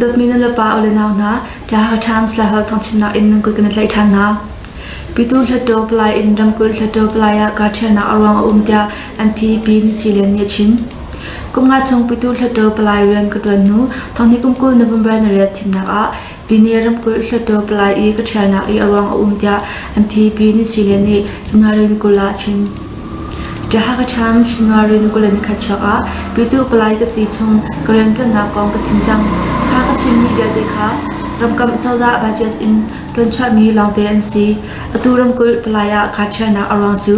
Dawtmi nulepa u le nau hna, The Hakha Times Lai Holh Thangchimnak in nan kut kan i tlaih ṭhan hna. Pitu Hluttaw Palai in ramkulh Hluttaw Palai ah kahṭhialnak a ruang a um tiah MPP Nishilen nih a chim. Kum nga chung Pitu Hluttaw Palai rian ka ṭuan hnu thawngni kum kul November na riat thimnak ah Pine ramkulh hluttaw palai i ka ṭhialnak i a ruang a um tiah MPP Nisile nih January ni kul ah a chim. Tiahaka Times January ni kul le ni khat chuak ah petu palai ka si chung ka rianṭuannak kong ka chim cang. Kha ka chimmi vialte kha ramkam cozah budgets in ṭuan chuahmi lawngte an si. Atu ramkulh palai ah kaa ṭhialnak a ruang cu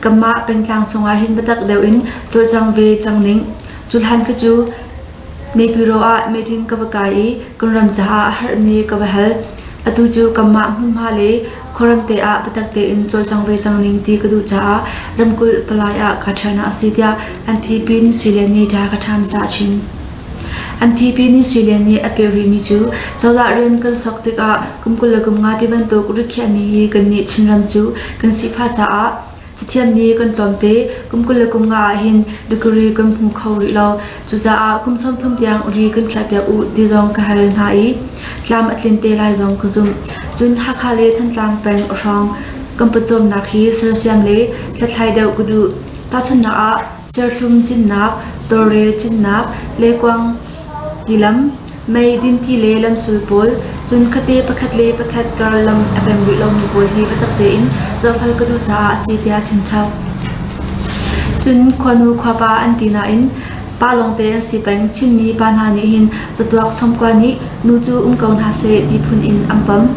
kanmah pengtlang chungah hin biatak deuh in cawlcang ve cang ning. Cu hlan khi cu Naypyidaw ah meeting ka va kai i kan ram caah a harhmi ka va hal. Atu cu kanmah hmunhma le khuaramte ah biatak tein cawlcang ve cang ning ti ka duh caah ramkulh palai ah kaa ṭhialnak a si tiah NPP Nin Sui Lian nih Thai Khaṭhamsa a chim. NPP Nin Sui Lian nih a peh rihmi cu cozah rian kan sok tikah kum kul le kum nga ti bantuk rikhiahmi hi kannih Chinram cu kan si pha caah Cathiam nih kan tlawmte kum kul le kum nga ah hin degree kan hmu kho rih lo. Cucaah kum sawmthum tiang ri kan khiahpiak u ti zong ka hal hna i tlam a tlin te lai zong ka zumh. Cun Hakha le Thantlang peng hrawng kan pawcawmnak hi sersiam le hlathlai deuh ka duh. Tahchunhnak ah serthlum cinnak, tawre cinnak, lekuang tilam Mei dinki le lamsul pawl, cun khuate pakhat le pakhat karlam a kan rih lomi pawl hi biatak tein zohfel ka duh caah a si tiah chinchap. Cun khuanu khuapa an ti nain pa lawngte an si peng Chinmi pa hna nih hin catuak somkua nih nu cu um ko hna seh ti phun in an pam.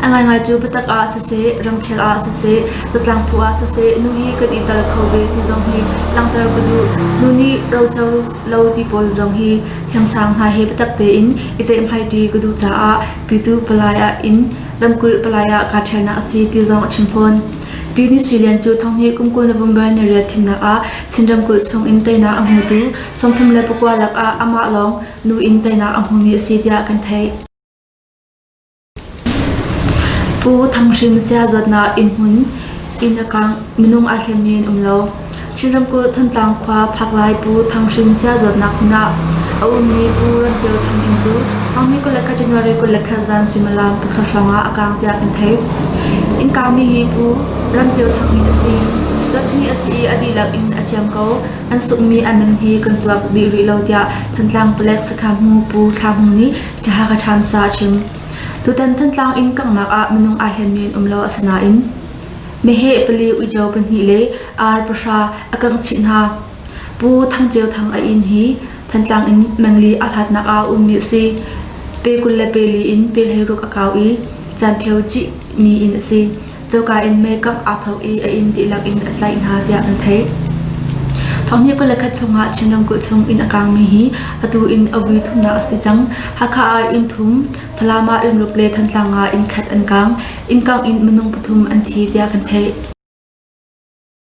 A ngaingai cu biatak ah siseh, ramkhel ah siseh, zatlang phu ah siseh, nu hi kan i tel kho ve ti zong hi langhter ka duh. Nu nih roco lo ti pawl zong hi thiamsang hna he biatak tein i ceihhmaiṭi ka duh caah pitu palai ah in ramkulh palai ah kaa ṭhialnak a si ti zong a chim fawn. Pi Ni Sui Lian cu thonghni kum kul November ni riat thimnak ah Chin ramkulh chung in teinak a hmutu sawmthum le pakua lakah amah lawng nu in teinak a hmumi a si tiah kan theih. Pu Thang Hrim siazawtnak innhmun inn a kang minung aa hlen men um lo. Chin ramkulh Thantlang khua Phakhlai Pu Thang Hrim siazawtnak hmun ah a ummi Pu Rancheu Than Ing cu Hangmi kul le khat January kul le khat zan suimilam pakhat hrawng ah a kang tiah kan theih. Inn kangmi hi Pu Rancheu Thang Ing a si. Dot hnih a si i a dihlak in a thiam ko. An sungmi an min hi kan tuak dih rih lo tiah Thantlang palek sakha hmu Pu Thla Hmu nih Ka Hakha Times ahcun tutan Thantlang in kanghnak ah minung ai hlen men um lo a si nain meheh pali uico pahnih le ar pahra a kangh chih hna. Pu Thang Ceu Thang a inn hi Thantlang in mengli a hlatnak ah ummi a si. Pe kul le peli in pelheiruk a kau i canpheu cihmi inn a si. Coka in makeup aa thawk i a inn dihlak in a tlaih hna tiah an theih. Thawkni kul le khat chungah Chin ramkulh chung inn a kaangmi hi atu in a vui thumnak a si cang. Hakha ah inn thum, Falam ah inn ruk le Thantlang ah inn khat an kaang. Inn kangh in minung pathum an thi tiah kan theih.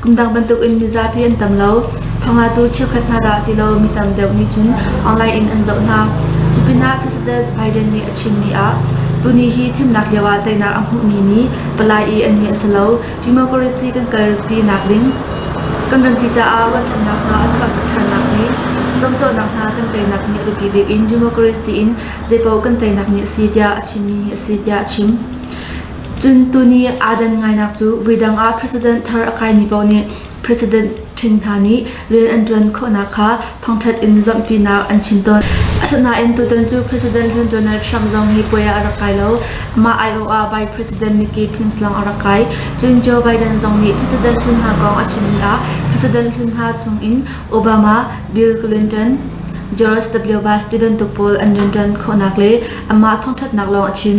Kum dang bantukin mizapi an tam lo. Thawngtlatu cheukhat hna dah ti lo mi tam deuh nih cun online in an zoh hna. Cupinah President Biden nih a chimmi ah tuni hi thimnak lioah teinak a hmuhmi ni palai i a ni a si lo. Democracy kan kalpi nakding kan rampi caah ruahchannak hna a chuahter ṭhannak le zuamcawhnak hna kan teinak nih a biapi bik in democracy in zeipaoh kan teinak nih a si tiah a chimmi hi a si tiah a chim. Cun tuni aa dan ngainak cu voidang ah president thar a kaimi paoh nih president ṭhin hna nih rian an ṭuan khawhnak kha thongṭhat in lawmhpinak an chim tawn. Asinain tutan cu president rian ṭuannak Trump zong hi puai ah a rak kai lo. Mah aiawh ah Vice President Mickey Pence lawng a rak kai. Cun Joe Biden zong nih president hlun hna kong a chimmi ah president hlun hna chungin Obama, Bill Clinton, Joris W. Bush ti bantuk pawl an rian ṭuan khawhnak le anmah thongṭhatnak lawng a chim.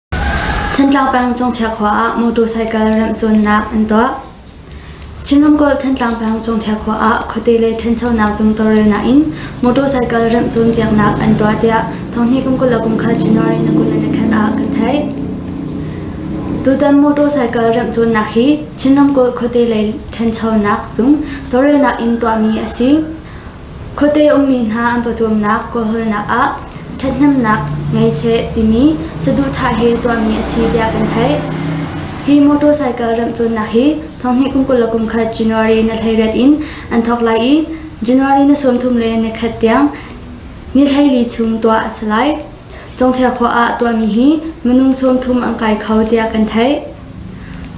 Thantlang peng Cungthia khua ah motorcycle remh cawnnak an tuah. Chin ramkulh Thantlang peng Cungthia khua ah khuate le ṭhanchonak zum tawlrelnak in motorcycle remh cawn piaknak an tuah tiah Thonghni kum kul le kum khat January nakulen le khan ah kan theih. Tutan motorcycle remh cawnnak hi Chin ramkulh khuate le ṭhanchonak zum tawlrelnak in tuahmi a si. Khuate ummi hna an pawcawmnak kawlhaelnak ah ṭhathnemnak ngei seh timi saduhthah hi tuahmi a si tiah kan theih. Hi motor cycle remh cawnnak hi thonghnih kum kul le kum khat January na thleirat in an thawk lai i January ni sawmthum le ni khat tiang ni thleili chung tuah a si lai. Cungthia khua ah tuahmi hi minung sawmthum an kai kho tiah kan theih.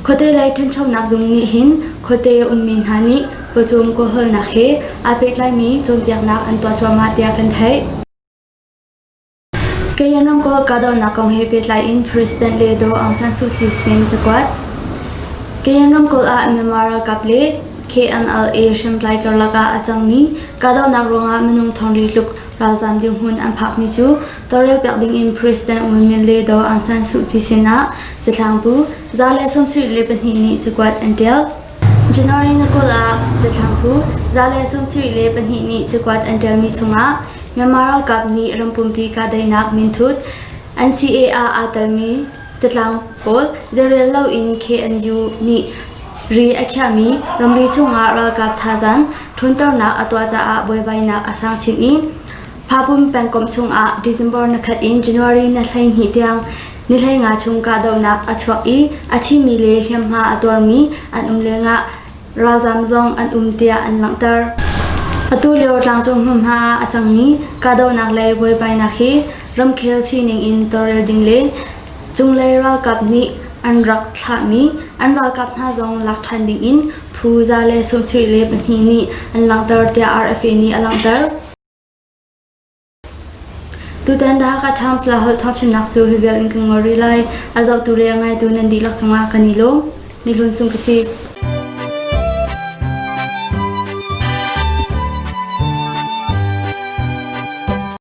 Khuate lei ṭhanchonak zung nih hin khuate ummi hna nih khuacung kawhhalnak he aa pehtlaimi cawnpiaknak an tuah cuahmah tiah kan theih. Kayan ramkulh kahdohnak kong he pehtlai in President Le Do Aung San Suu Kyi sin cakuat. Kayan ramkulh ah Myanmar ralkap le KNLA hriamtlai karlak ah a cangmi kahdohnak ruangah minung thongri tluk Ralzam dirhmun an phakmi cu tawrrel pek dingin President Aung Min le Do Aung San Suu Kyi sinah zathlaang bu za le sawmsarih le pahnih nih cakuat an ṭial. January na kul ah zathlaang bu za le sawmsarih le pahnih nih cakuat an ṭialmi chungah Myanmar ralkap nih rampumpi kahdaihnak minthut NCA ah aa telmi Catlang pawl zeirel loin KNU nih ri a khiahmi ramri chungah ralkap thazaang ṭhawnternak a tuah caah buaibainak a sang chin i Phapum pengkomh chungah December nakhat in January ni hleihnih tiang ni hleinga chung kahdohnak a chuak i a thimi le hliamhma a tuarmi an um lengah ralzaam zong an um tiah an langhter. Atu lio tlangcung hmunhma a cangmi kahdohnak le buaibainak hi ramkhel sining in tawlrel ding le cunglei ralkap nih an rak thlahmi an ralkap hna zong lak ṭhan ding in phu za le sawmsarih le pahnih nih an langhter tiah RFA nih a langhter. Tutan dah Ka Times Lah holh thawngchimnak cu hi vial in kan ngol rih lai. A zohtu le a ngaitu nan dihlak cungah kan i lawm. Ni hlun sung ka si.